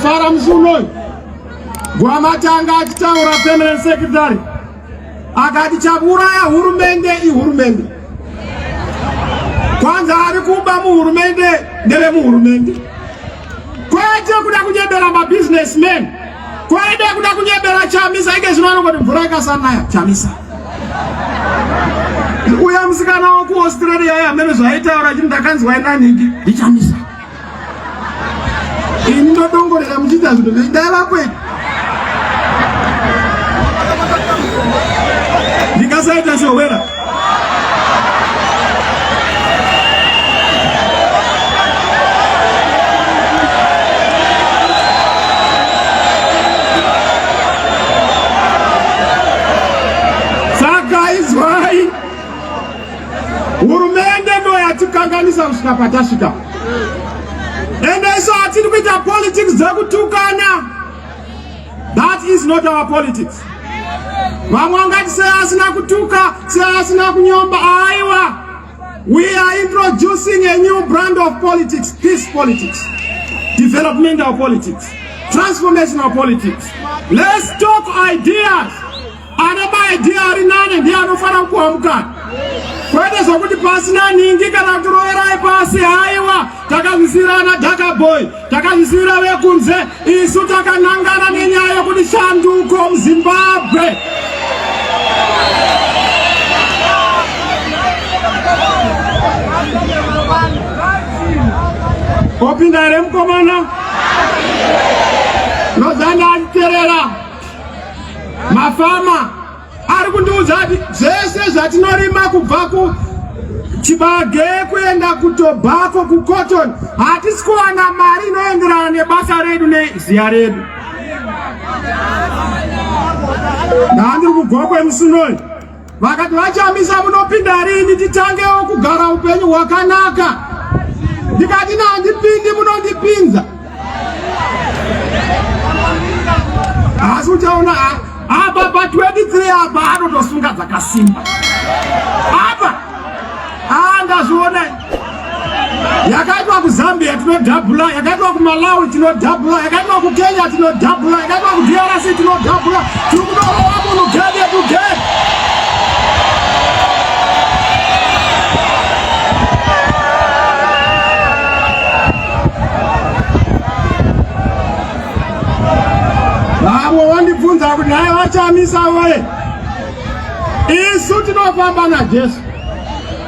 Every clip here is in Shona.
Fara musi unoyu Gwamatanga achitaura permanent secretary akati chakuuraya hurumende ihurumende kwanza ari kuba muhurumende ndevemuhurumende kwete kuda kunyebera mabusinessman kwete kuda kunyebera chamisa ike zvino anongoti mvura ikasanaya chamisa uya musikana wakuaustralia ye hamene zvaitaura chii ndakanzwa inanhingi ndichamisa ini ndodongorera muchiita zvinhu zveidai vakwedu ndikasaita shohwera hurumende ndo yatikanganisa kusvika patasvika ende isu hatiri kuita politics dzekutukana that is not our politics vamwe angati sei asina kutuka sei asina kunyomba aiwa we are introducing a new brand of politics peace politics developmental politics transformational politics let's talk ideas Ana mai ndiye ari nane ndiye anofana kuamukana kwete zvokuti pasina ningi kana kuroverai pasi haiwa takazvisirana dakaboy takazvisira vekunze isu takanangana nenyaya yekuti shanduko muzimbabwe opinda here mukomana nozana achiterera mafama ari kundiudza kuti zvese zvatinorima kubva ku chibage kuenda kutobako kucotton hatisi kuwana mari inoenderana nebasa redu neziya redu ndandiri kugwa kwemusunoi vakati vachamisa munopinda rini titangewo kugara upenyu hwakanaka ndikati nandipindi munondipinza asi uchaona apa pa 23 apa anotosunga dzakasimba apa andazviona yakaitwa kuzambia tinodhabhula yakaitwa kumalawi tinodhabhula yakaitwa kukenya tinodhabhula yakaitwa kudrc tinodhabhula tiri kudorowa munhu gede tugede vamwe wandibvunza kuti naye vachamisa vaye isu tinofamba najesu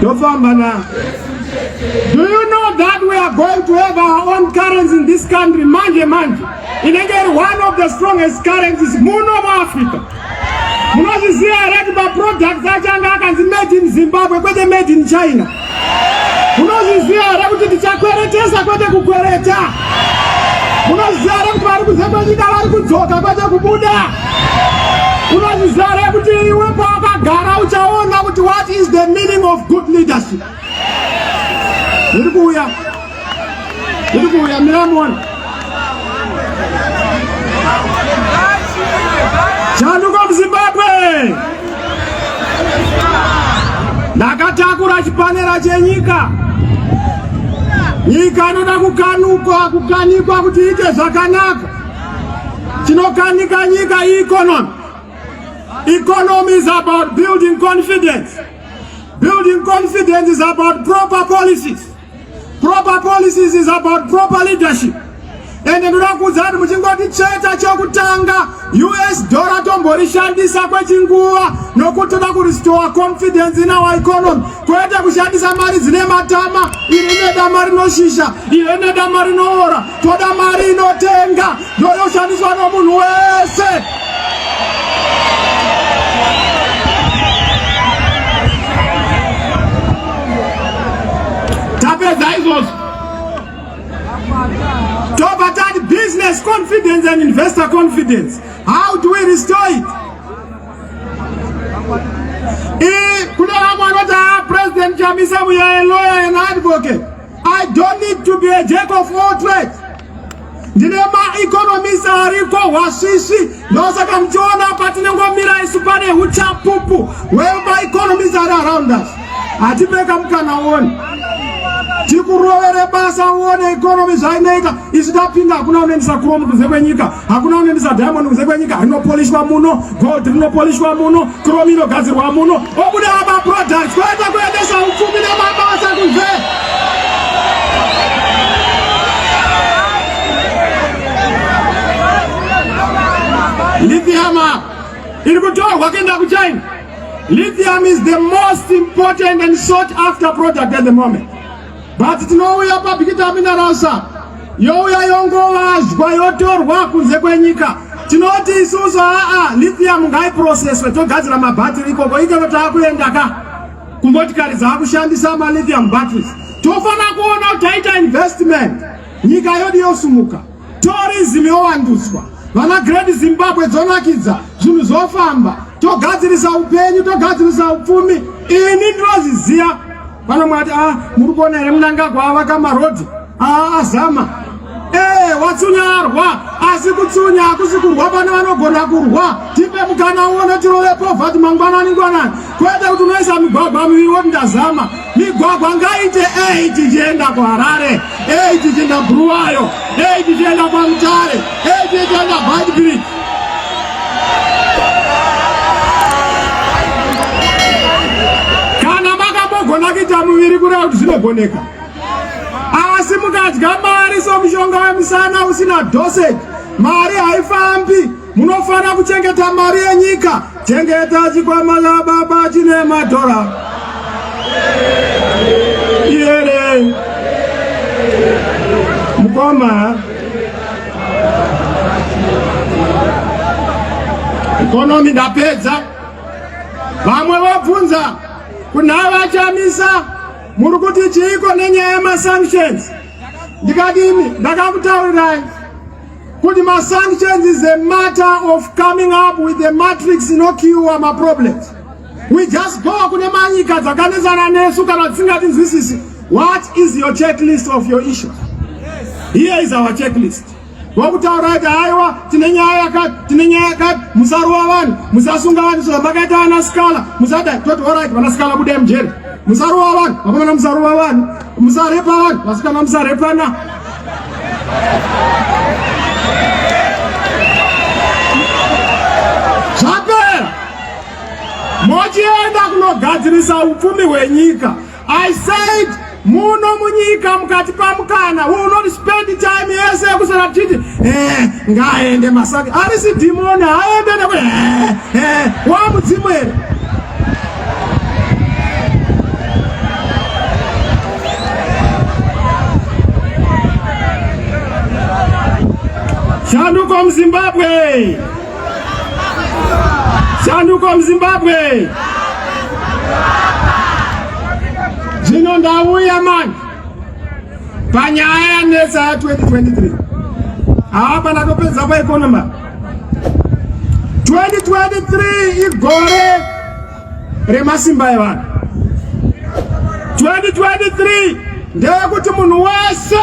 tofamba na do you know that we are going to have our own currency in this country manje manje inenge iri one of the strongest currencies muno muafrica munozviziva here kuti maproducts achanga akanzi made in zimbabwe kwete made in china munozviziva here kuti tichakweretesa kwete kukwereta munozviziva here kuti vari kuzekwenyika vari kudzoka kwete kubuda Unozvizare kuti iwe pawakagara uchaona kuti what is the meaning of good leadership. Ndiri kuuya. Ndiri kuuya miramona. Chanduka muZimbabwe. Ndakatakura chipanera chenyika. Nyika inoda kukanukwa, kukanikwa kuti iite zvakanaka. Tinokanika nyika economy. Economy is about building confidence. Building confidence is about proper policies. Proper policies is about proper leadership. ende ndoda kuudza kuti muchingoti cheta chokutanga us dollar tomborishandisa kwechinguva nokuti toda kurestore confidence in our economy kwete kushandisa mari dzine matama iri nedama rinoshisha iri nedama rinoora toda mari inotenga ndoyoshandiswa nomunhu wese tapedza izvozvo tobva tati business confidence and investor confidence how do we restore it kune vamwe vanoti a ah, president chamisa muyaeloya and advocate I don't need to be a jack of all trades. Ndine maeconomist ariko hwasvishi ndosaka muchiona apa tinengomira isu pane uchapupu wemaeconomist ari around us hatipeka mukana woni tikurovere basa uone economy zvainoita isu tapinda hakuna unoendesa kuromu kunze kwenyika hakuna unoendesa diamond kunze kwenyika rinopolishwa muno gold rinopolishwa muno chrome inogadzirwa muno obuda maproducts kwete kuendesa upfumi nemabasa kunze lithium iri kutorwa kuenda kuchina lithium is the most important and sought after product at the moment but tinouya pabikita minarasha youya yongovazhwa yotorwa kunze kwenyika tinoti isusu aa lithium ngaiproceswe togadzira mabattery ikoko ikero taakuenda ka kumotikari dzaakushandisa malithium batteries tofana kuona kuti taita investment nyika yodi yosumuka Tourism yovandudzwa, vana Great Zimbabwe dzonakidza, zvinhu zvofamba, togadzirisa upenyu, togadzirisa upfumi. Ini ndinozviziva vana mwati ah, muri kuona here munangagwa avaka marodhi ah, azama ee eh, watsunyarwa asi kutsunya hakusi kurwa pane vanogona kurwa tipe mukana uone tirove povhati mangwanani ngwanani kwete kuti unoisa migwagwa miviri woti ndazama migwagwa ngaite ei tichienda kuharare ei tichienda bhuruwayo ei tichienda kwamutare ei tichienda badbridge kana makambogona kuita muviri kureva kuti zvinogoneka asi mukadya mari somushonga wemusana usina dosage mari haifambi Munofanira kuchengeta mari yenyika. Chengeta chikwama chababa chine madhora. Iyere. Mukoma. Ekonomi ndapedza. Vamwe vabvunza kuna vachamisa muri kuti chiiko nenyaya yemasanctions ndikadini ndakakutaurirai kuti ma sanctions is a matter of coming up with the matrix no cure ma problems we just go kune manyika dzakanetsana nesu kana dzisingatinzwisisi what is your checklist of your issues here is our checklist wakutaura kuti aiwa tine nyaya yakati tine nyaya yakati musarova vanhu musasunga vanhu soo makaita vana sikala musada toti orit vana sikala budai mujeri musarova vanhu vakomana musarova vanhu Musarepana, vasikana musarepana. Zvapera. Mochienda kunogadzirisa upfumi hwenyika. I said muno munyika mukati pamukana will not spend time yese yekusara tichiti eh, ngaaende masaka arisi dhimoni aende neku eh, eh, wamudzimu here Shanduko Mzimbabwe! Shanduko Mzimbabwe! Zvino ndauya manje panyaya yanetsa ya 2023 hapana topedza paekonoma 2023 igore remasimba evanhu 2023 ndeyekuti munhu wese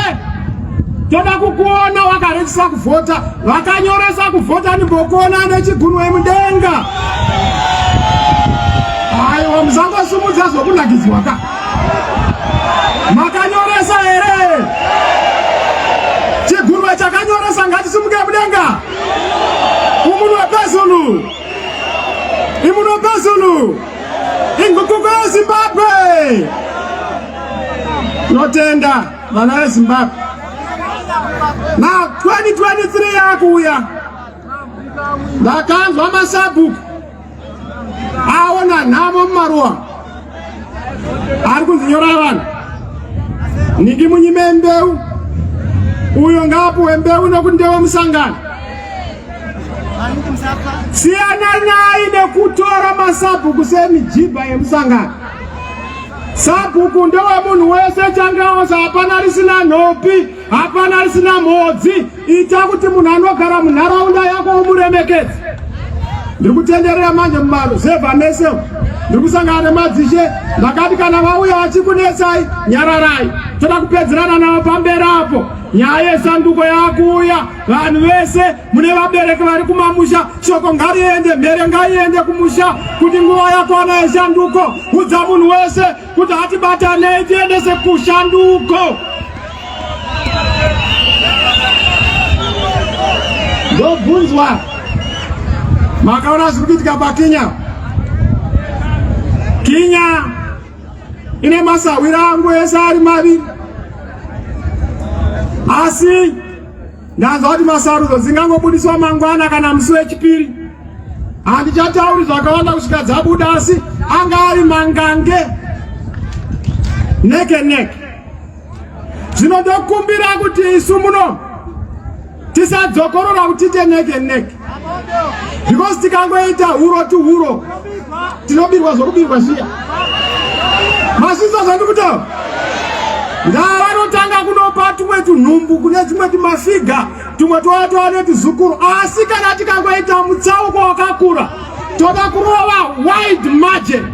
toda kukuona wakarikisa kuvhota vakanyoresa kuvhota ndimbokuona nechigunwe mudenga aiwa musangosimudza zvokunakidzwa ka Makanyoresa here? Chigurwe chakanyoresa ngachisimuke mudenga. Umunhu wepezulu. Imunhu wepezulu. Ingukuko yeZimbabwe. Tinotenda vana veZimbabwe. Now 2023 yakuuya. Ndakanzwa masabhuku. aona nhamo mumaruwa ari kunzinyorai vanhu niki munyime mbeu uyo ngaapuwe mbeu nokuti ndewe musangano siyana nayi nekutora masabhuku semijibha yemusangano sabhuku ndewemunhu wese changeosa hapana risina nhopi Hapana risina mhodzi, ita kuti munhu anogara munharaunda yako umuremekedze. Ndiri kutenderera manje mumaruzevha mese, ndiri kusangana nemadzishe, ndakati kana vauya vachikunetsai, nyararai, toda kupedzerana navo pamberi apo. Nyaya yesanduko yakuuya, vanhu vese mune vabereki vari kumamusha, shoko ngariende, mhere ngaiende kumusha, kuti nguva yakwana yesanduko, udza munhu wese kuti hatibatanei tiendese kushanduko ndobvunzwa makaona zviri kuitika pakinya kinya ine masahwira angu ese ari maviri asi Ndanzwa kuti masarudzo dzingangobudiswa mangwana kana musi wechipiri. Handichatauri zvakawanda kusvika dzabuda asi anga ari mangange neke neke. Zvino ndokumbira kuti isu muno tisadzokorora kuti tiite neke neke. because tikangoita huro to huro tinobirwa zvokubirwa zviya masvisa zvandikutaura ndaa vanotanga kunopa tumwe tunhumbu kune tumwe tumafiga tumwe tova tova netuzukuru asi kana tikangoita mutsauko wakakura toda kurova wide margin